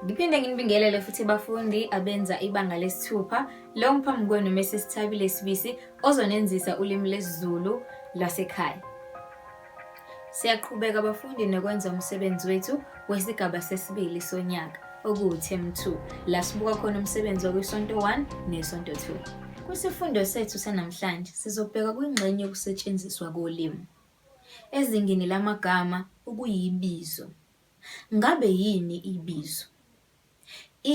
Ngiphinde nginibingelele futhi bafundi abenza ibanga lesithupha lo ngiphambi kwenu Mrs Thabile Sibisi ozonenzisa ulimi lesiZulu lwasekhaya. Siyaqhubeka bafundi nokwenza umsebenzi wethu wesigaba sesibili sonyaka okuwuThem 2 la sibuka khona umsebenzi wakwisonto 1 nesonto 2. Kwisifundo sethu sanamhlanje sizobheka kwingxenye yokusetshenziswa kolimi. Ezingeni lamagama okuyibizo, ngabe yini ibizo?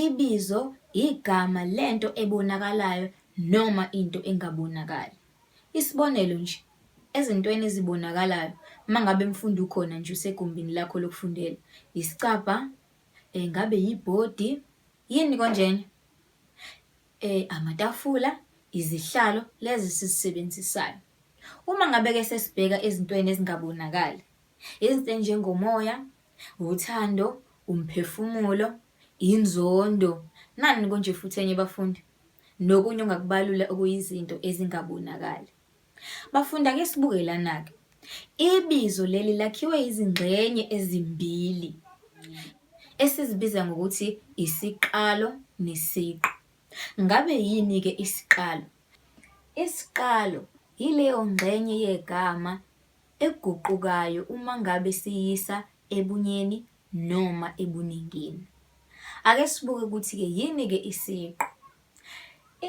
Ibizo igama lento ebonakalayo noma into engabonakali. Isibonelo nje, ezintweni ezibonakalayo mangabe mfundi ukhona nje usegumbini lakho lokufundela, isicabha, ngabe yibhodi, yini konjena? Eh, amatafula, izihlalo lezi sizisebenzisayo. Uma ngabe-ke sesibheka ezintweni ezingabonakali, izinto enjengomoya, uthando, umphefumulo, inzondo, nani konje futhi enye bafundi, nokunye ongakubalula okuyizinto ezingabonakali. Bafunda ake sibuke lana-ke. Ibizo leli lakhiwe izingxenye ezimbili esizibiza ngokuthi isiqalo nesiqu. Ngabe yini-ke isiqalo? Isiqalo yileyo ngxenye yegama eguqukayo uma ngabe siyisa ebunyeni noma ebuningini. Ake sibuke ukuthi-ke yini-ke isiqu.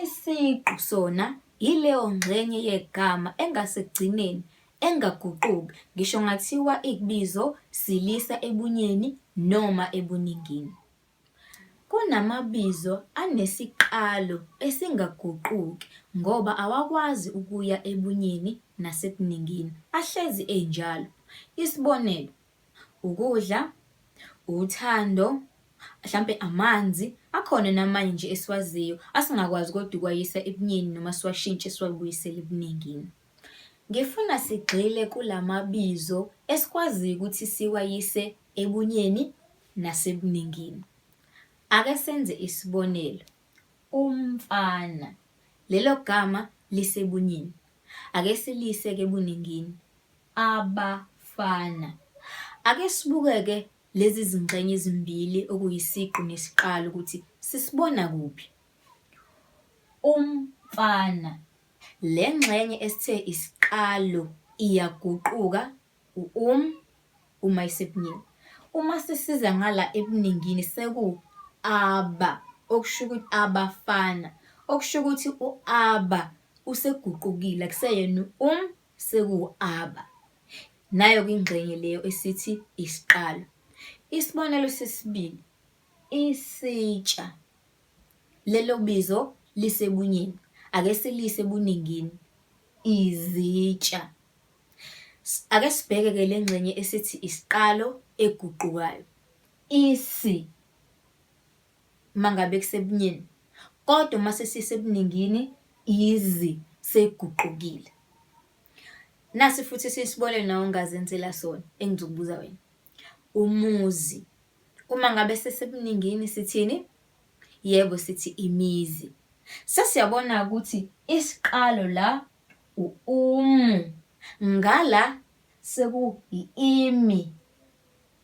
Isiqu sona yileyo ngxenye yegama engasekugcineni engaguquki ngisho kungathiwa ibizo silisa ebunyeni noma ebuningini. Kunamabizo anesiqalo esingaguquki ngoba awakwazi ukuya ebunyeni nasebuningini, ahlezi enjalo. Isibonelo, Ukudla, uthando, hlampe amanzi, akhona namanye nje esiwaziyo asingakwazi kodwa ukwayisa ebunyeni noma siwashintshe siwabuyisele ebuningini. Ngifuna sigxile kula mabizo esikwaziyo ukuthi siwayise ebunyeni nasebuningini. Ake senze isibonelo, umfana. Lelo gama lisebunyeni. Ake siliyise-ke ebuningini. abafana. Ake sibukeke lezi zingxenye ezimbili okuyisiqu nesiqalo ukuthi sisibona kuphi. Umfana. Le ngxenye esithe isiqalo iyaguquka u-um uma isebunini. Uma sisiza ngala ebuningini seku aba okusho ukuthi abafana okusho ukuthi u-aba useguqukile akuseyena u-um Sekuwu-aba. Nayo-ke ingxenye leyo esithi isiqalo. Isibonelo sesibili, isitsha. Lelo bizo lisebunyeni. Ake siliyise ebuningini, izitsha. Ake sibheke-ke le ngxenye esithi isiqalo eguqukayo, isi. uma ngabe kusebunyeni kodwa uma sesisebuningini izwi seyiguqukile. Nasi futhi esinye isibonelo nawe ongazenzela sona engizokubuza wena. Umuzi, uma ngabe sesebuningini sithini? Yebo, sithi imizi. Sesiyabona-ke ukuthi isiqalo la u-umu, ngala seku-i-imi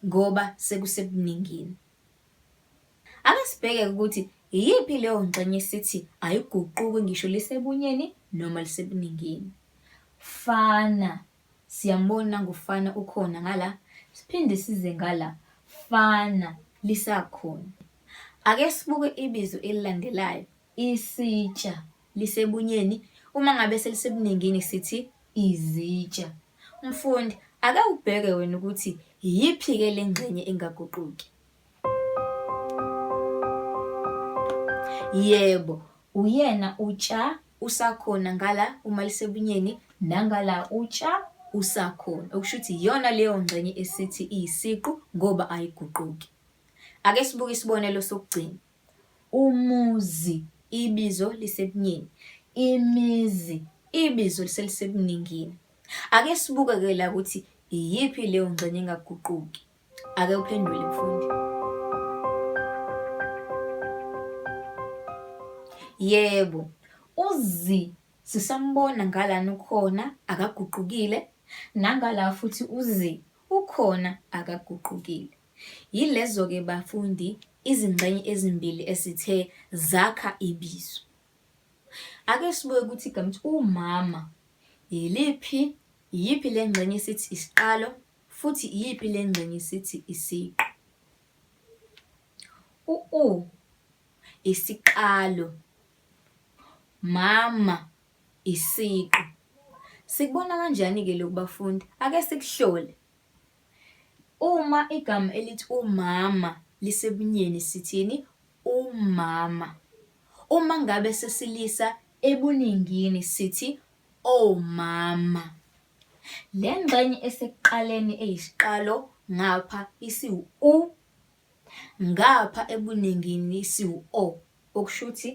ngoba sekusebuningini. Ake sibheke ukuthi iyiphi leyo ngxenye sithi ayiguquki ngisho lisebunyeni noma lisebuningini. Fana, siyambona nangofana ukhona ngala, siphinde size ngala, fana lisakhona. Ake sibuke ibizo elilandelayo, isitsha. lisebunyeni, uma ngabe selisebuningini sithi izitsha. Mfundi, ake ubheke wena ukuthi iyiphi-ke le ngxenye engaguquki. Yebo, uyena utsha usakhona ngala uma lisebunyeni nangala utsha usakhona okusho ukuthi iyona leyo ngxenye esithi iyisiqu ngoba ayiguquki. Ake sibuke isibonelo sokugcina. Umuzi, ibizo lisebunyeni. Imizi, ibizo eliselisebuningini. Ake sibuke-ke la ukuthi iyiphi leyo ngxenye engaguquki. Ake uphendule mfundi. Yebo, uzi sisambona ngalana ukhona akaguqukile nangala futhi uzi ukhona akaguqukile. Yilezo-ke bafundi izingxenye ezimbili esithe zakha ibizo. Ake sibuke ukuthi igama ukuthi umama yiliphi, iyiphi le ngxenye esithi isiqalo futhi iyiphi le ngxenye esithi isiqu. U-u isiqalo, mama isiqu. Sikubona kanjani-ke lokhu bafundi? Ake sikuhlole. Uma igama elithi umama lisebunyeni sithini? Umama. Uma ngabe sesilisa ebuningini sithi omama. Le ngxenye esekuqaleni eyisiqalo ngapha isiwu-u, ngapha ebuningini isiwu-o, okusho ukuthi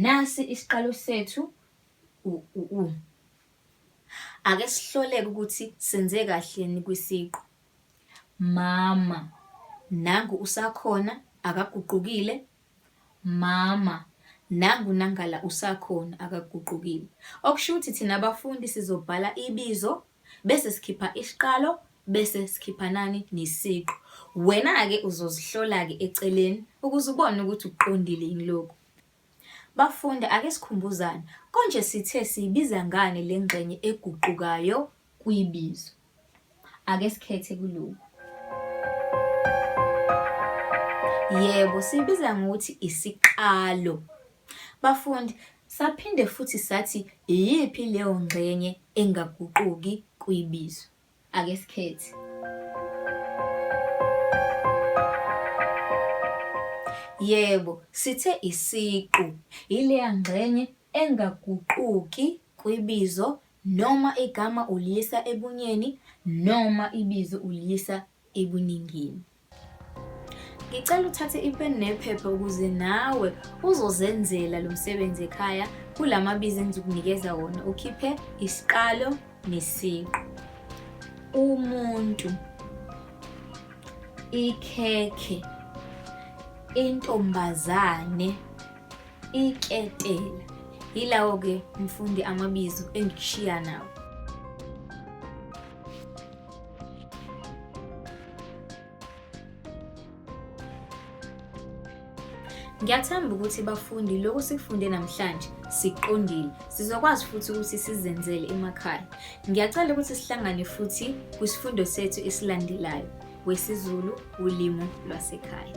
nasi isiqalo sethu u-u. Ake sihloleke ukuthi senze kahleni kwisiqu. Mama, nangu usakhona akaguqukile. Mama, nangu nangala usakhona akaguqukile. Okusho ukuthi thina abafundi sizobhala ibizo bese sikhipha isiqalo bese sikhipha nani nesiqu. Wena-ke uzozihlola-ke eceleni ukuze ubone ukuthi ukuqondile yini lokhu. Bafundi, ake sikhumbuzane, konje sithe siyibiza ngani le ngxenye eguqukayo kwibizo? Ake sikhethe kulokhu. Yebo, siyibiza ngokuthi isiqalo. Bafundi, saphinde futhi sathi iyiphi leyo ngxenye engaguquki kwibizo? Ake sikhethe. Yebo, sithe isiqu yileya ngxenye engaguquki kwibizo noma igama uliyisa ebunyeni noma ibizo uliyisa ebuningini. Ngicela uthathe ipeni nephepha ukuze nawe uzozenzela lo msebenzi ekhaya kula mabizo engizokunikeza wona ukhiphe isiqalo nesiqu. Umuntu, ikhekhe, intombazane. Iketela. Yilawo ke mfundi amabizo engikushiya nawo. Ngiyathemba ukuthi bafundi lokhu sikufunde namhlanje siqondile. Sizokwazi futhi ukuthi sizenzele emakhaya. Ngiyacela ukuthi sihlangane futhi kwisifundo sethu esilandelayo. wesiZulu ulimi lwasekhaya.